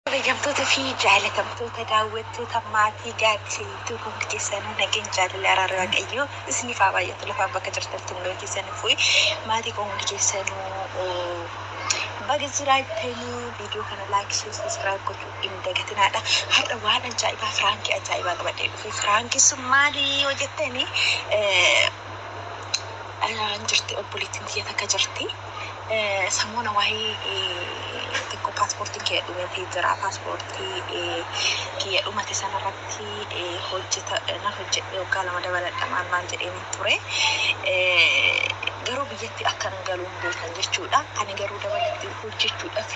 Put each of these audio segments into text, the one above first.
Kabajamtoota fi jaalatamtoota daawwattoota maatii Gaaddisa YouTube hundi keessanuu nageenyi jaalalli araarri Waaqayyoo isiniif haa baay'atu lafaan bakka jirtan hundoo keessan fu'e maatii koo hundi keessanuu baga jiraattanii viidiyoo kana laayik shee sabiskiraayib gochuu hin dagatinaadha har'a waan ajaa'ibaa firaankii ajaa'ibaa qabadhee dhufe firaankii sun maali yoo jettanii jirti obboleettiin tiyya takka jirti. Samoona wahii xiqqo passportin kiyya dhumeti jira passporti kiyya dhumate sana irratti hojjeta nan hojjedhe waggaa lama dabaladha maal maal jedheenin ture garuu biyyatti akkan galu hin beekan jechuudha ani garuu dabalatti hojjechuudhaf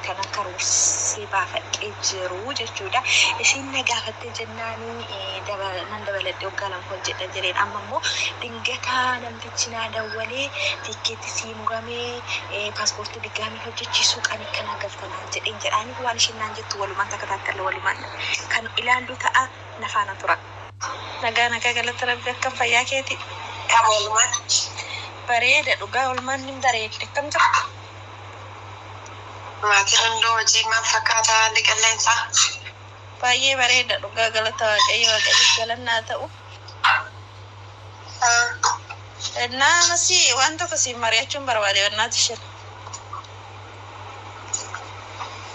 kanan karoorsee baafadhe jiru jechuudha isiin na gaafatte jennaani nan dabaladhe waggaa lama hojjedha jedheen amma immoo dingataa namti si naa dawwalee tiikkeetti sii muramee paaspoortii diggaamii hojjechiisuu qanii akka naa galta naan jedheen jedhaanii waan isheen naan jettu walumaan takataattalla walumaan kan ilaallu ta'a na faana tura. Nagaa nagaa galata rabbi akkam fayyaa keeti kam olmaan bareeda dhugaa olmaan nin bareeddi akkam jirtu. Maatiin hunduu hojii maal fakkaata haalli qilleensaa. Baay'ee bareeda dhugaa galata waaqayyo waaqayyoof galanni haa ta'u. Ennaa amasi waan tokko siin mari'achuun barbaade ennaa tishir.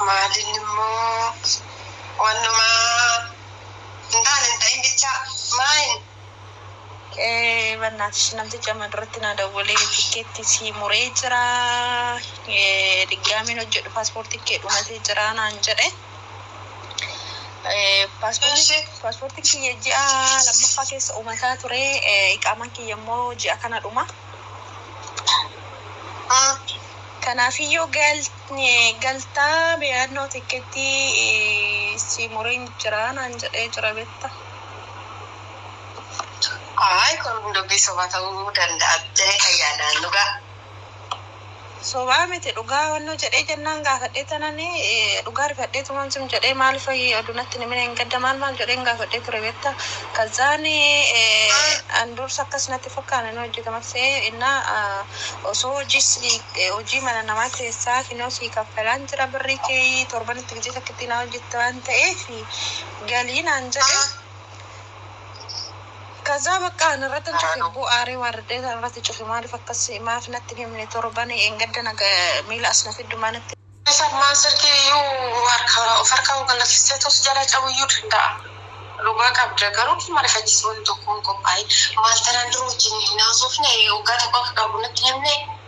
Maalin immoo wannumaa hin taane hin ta'in bichaa maayin. Ee bannaatish namtichi amma duratti naa dawwalee tikkeetti sii muree jira. Ee diggaamiin hojjedhu paaspoortiin kee dhumatee jira naan jedhe. Paaspoortiin kiyya ji'a lammaffaa keessa uumataa ture. Iqaamaan kiyya immoo ji'a kana dhuma. Kanaafiyyuu galtaa biyyaannoo tikkeettii si mureen jira naan jedhee jira beekta. Kun hundumti soba ta'uu danda'a jettee kan yaadaan dhugaa. Sobaa miti dhugaa wannoo jedhee jennaan gaafadhee tanani dhugaa rifadhee tuman sim jedhee maal fayi odu natti hin himine engadda maal maal jedheen gaafadhee ture betta kazzaani an dursa akkas natti fakkaane nu hojjetamat se'ee inna osoo hojii sii hojii mana namaa keessaa kinoo sii kaffalaan jira birrii keeyii torbanitti gizee takkittii naa hojjetta waan ta'eef galii naan jedhe Kazaa bakka ana irratti hin cufe bu'aaree waarraddee sana irratti cufe maaliif akkas maaf natti hin himne torban eengadda naga miila as na fiddu maa natti Sammaan silkii iyyuu harka of harkaa ol gallakistee tos jala cabu iyyuu danda'a. Dhugaa qabda garuu hin marifachiisa wanni tokko hin qophaa'in maal tanaan dura wajjin hin haasofne waggaa tokko akka qabu natti hin himne.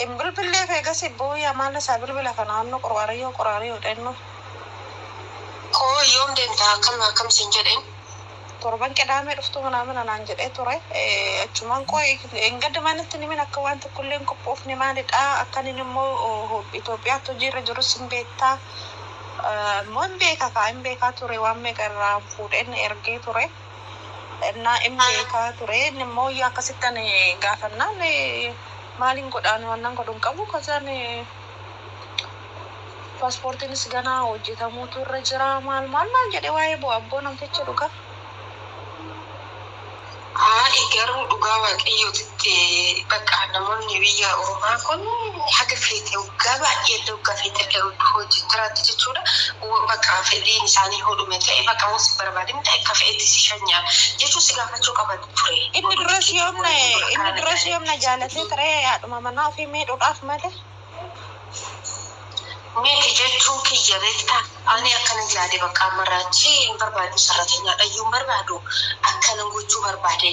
Hin bilbilleef eegasii booyi amaala isaa bilbila kana annu qorwaarayyoo qoraariyoo dhennu. Koo yoom deemta akkam akkam siin jedheen. Torban qidaamee dhuftu minaamina naan jedhee ture achumaan qoyi engadda maa natti hin himin akka waan tokko illee hin qophoofne maalidha akkan inni immoo Itoophiyaatti hojii irra jirus hin beektaa immoo hin beeka kaa hin beekaa ture waan meeqa irraa fuudheen ergee ture. Ennaa in beeka ture, inni immoo yaa akkasitti ani gaafannaan maalin godha ani wannan godhu hin qabu kazaan paaspoortiinis gana hojjetamuutu irra jira maal maal naan jedhe waa'ee bu'a abboo namtichi dhugaa. Ani garuu dhugaa waaqayyootitti bakka namoonni biyya ormaa kun haga feete waggaa baay'ee illee waggaa feete illee hojjechaa jiraatti jechuudha. Wo baqa fedhiin isaanii hoo dhume ta'e baqa wo si barbaadin ta'e akka fe'etti si shanya jechuun si gaafachuu qaban ture. Inni dura si yoom na inni dura si yoom na jaalatee ture haadhuma manaa ofii miidhuudhaaf malee. Miti jechuun kiyya beektaa ani akkanan yaade baqa ammarraa achi hin barbaadu sarratenyaadhayyuu hin barbaadu akkanan gochuu barbaade.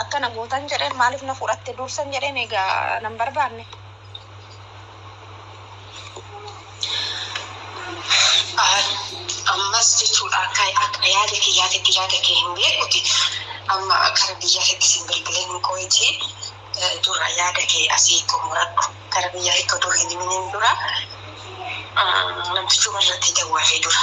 Akka na gootan jedheen maaliif na fudhatte dursan jedheen egaa nan barbaanne. Ammas jechuudha akka akka yaada kiyyaatitti yaada kee hin beekuti amma kara biyyaa keetti sin bilbileen qoyiti dura yaada kee asii xumuradhu kara biyyaa keetti odoo hin himiniin dura namtichuma irratti dawwalee dura.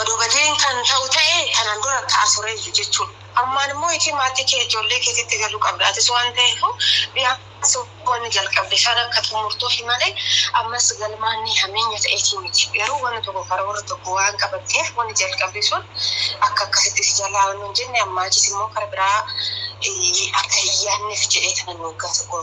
Odoo badeen kan ta'u ta'e tanaan dura ta'a tureeyyu jechuun ammaan immoo itii maatii kee ijoollee keetitti galuu qabda atis waan ta'eefu biyaansi wanni jalqabde san akka xumurtuufi malee ammas galmaan ni hameenya ta'eetii miti garuu wanni tokko karoora tokko waan qabatteef wanni jalqabde sun akka akkasitti si jalaa wanni hin jenne ammaa achiis immoo kara biraa akka hin yaanneef jedhee tanan waggaa tokko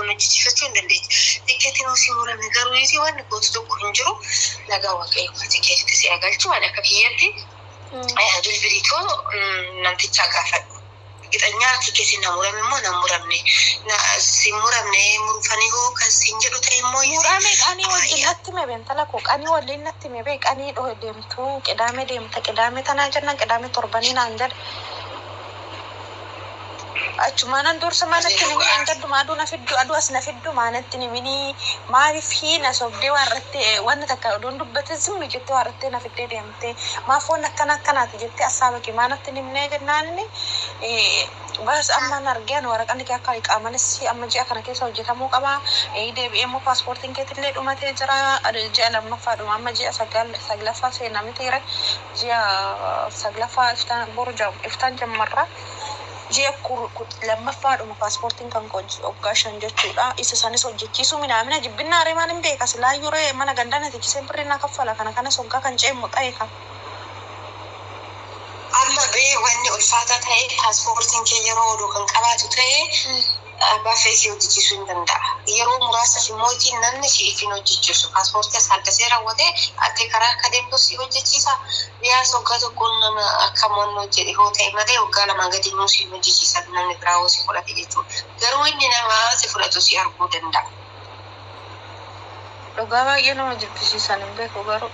Nama jijjiirrachuu hin dandeetti. Tikkeettiin yoo sii murame garuu iyyiti wanni gootu tokko hin jiru. Nagaa Waaqayyoo kan tikkeetitti si haa galchu. Ani akka kiyyatti bilbilii too namtichaa gaafadhu. Ergixanyaa tikkeettiin na murame moo nan muramne? Na sin muramne murufanii hoo kan siin jedhu ta'e immoo iyyiti. Murame qanii wajjin natti hime bee intala koo qanii walliin natti hime bee qanii dho deemtuu qidaame deemta qidaame tanaa jennaan qidaame torbanii naan jedhe. Achumaanan dursa maanatti nimi engadhuma aduu na fiddu aduu as na fiddu maanatti nimini maaliif hii na sobdee waan irratti wanna takka odoon dubbate zimmi jettee waan irratti na fiddee deemte maaf wanna akkana akkanaati jettee assaaba kee maanatti nimnee jennaanini baas ammaan argeen waraqanni kee akka iqaamanis amma ji'a kana keessa hojjetamuu qaba deebi'ee immoo paaspoortiin keetillee dhumatee jira ji'a lammaffaa dhuma amma ji'a saglaffaa seenaa mitiire Ji'a saglaffaa iftaan boru jam iftaan jammarra ji'a kur kut lammaffaa dhuma pasportin kan koo ji oggaa shan jechuudha isa sanis hojjechiisuu minaamina jibbinnaa ree maalin beeka silaayyuu ree mana gandaa na techisee birri na kaffala kana kanas oggaa kan ce'e muxa'e kan Amma ree wanni ulfaataa ta'ee pasportin kee yeroo odoo kan qabaatu ta'ee. Abbaa fee si hojjechiisuu hin danda'a. Yeroo muraasaf immoojii namni si'iif hin hojjechiisu. Paaspoortii as haaddasee rawwatee ati karaa akka deemtuuf si hojjechiisa. Biyaansi waggaa tokkoon nama akka Mo'annoo jedhe hoo ta'e malee waggaa lamaa gadi immoo si hin hojjechiisan namni biraa hoo si fudhate jechuudha. Garuu inni nama si fudhatu si arguu danda'a. Dhugaa baay'ee nama jibbisiisan hin beeku garuu.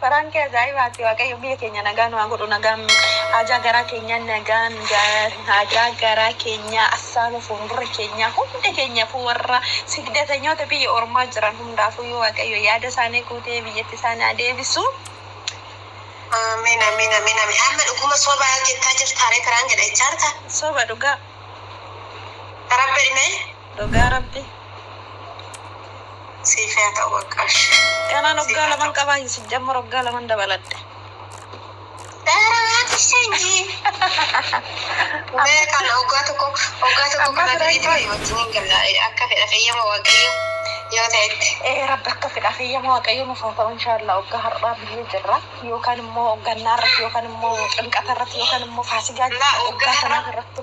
Prank ajaa'ibaati waaqayyo biyya keenya nagaa nu haa godhu nagaan haajaa garaa keenyaa nagaan haajaa garaa keenyaa assaaba fuundura keenyaa hunda keenyaafuu warra sigdatanyoota biyya ormaa jiran hundaafuu yoo waaqayyo yaada isaanii guutee biyyatti isaan haa deebisu. Amen amen amen amen amma dhuguma soba jettaa jirtaaree piraank jedha jechaarta Soba dhugaa. rabbi ilmee Dhugaa rabbi siif yaa ta'u waqqaash. Kanaan waggaa laman qabaa Yusuf amma waggaa laman dabaladhe. Daraati sanyii. Mee kan oggaa tokko oggaa tokko Amma kana fidee biraa ta'e wajjin hin galla akka fedha feyyama waaqayyo yoo ta'etti. Ee rabbi akka fedha feyyama waaqayyo nuuf haa ta'u inshaallaa waggaa har'aa biyyee jirra yookaan immoo gannaa irratti yookaan immoo ximqata irratti yookaan immoo faasigaa Laa oggaa waggaa kanaa har'a irratti.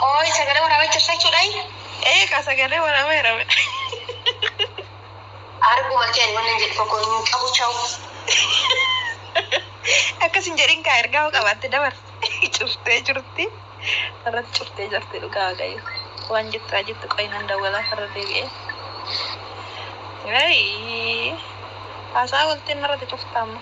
Qooy sagalee waraabee tirsachuu dhayi. Eeqa sagalee waraabee hirabe. Arguma kee ani wanni jedhu tokko hin qabu chawu. Akkas hin jedhin kaa ergaa hoo qabaatte dabar. Cuftee jirti. Irratti cuftee jirti dhugaa waaqayyo. Waan jettu haa jettu qoy nan dawwalaa farra deebi'ee. Wayii. Haasaa walteen narratti cuftaamma.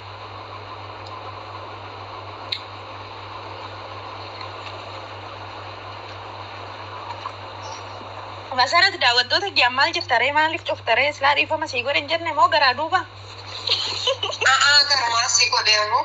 Masarat daawwattoota ji'an maal jirta ree maaliif cufta ree silaa dhiifama sii godhe hin jenne moo garaa duuba. A'aa garumaa si godhee ammoo.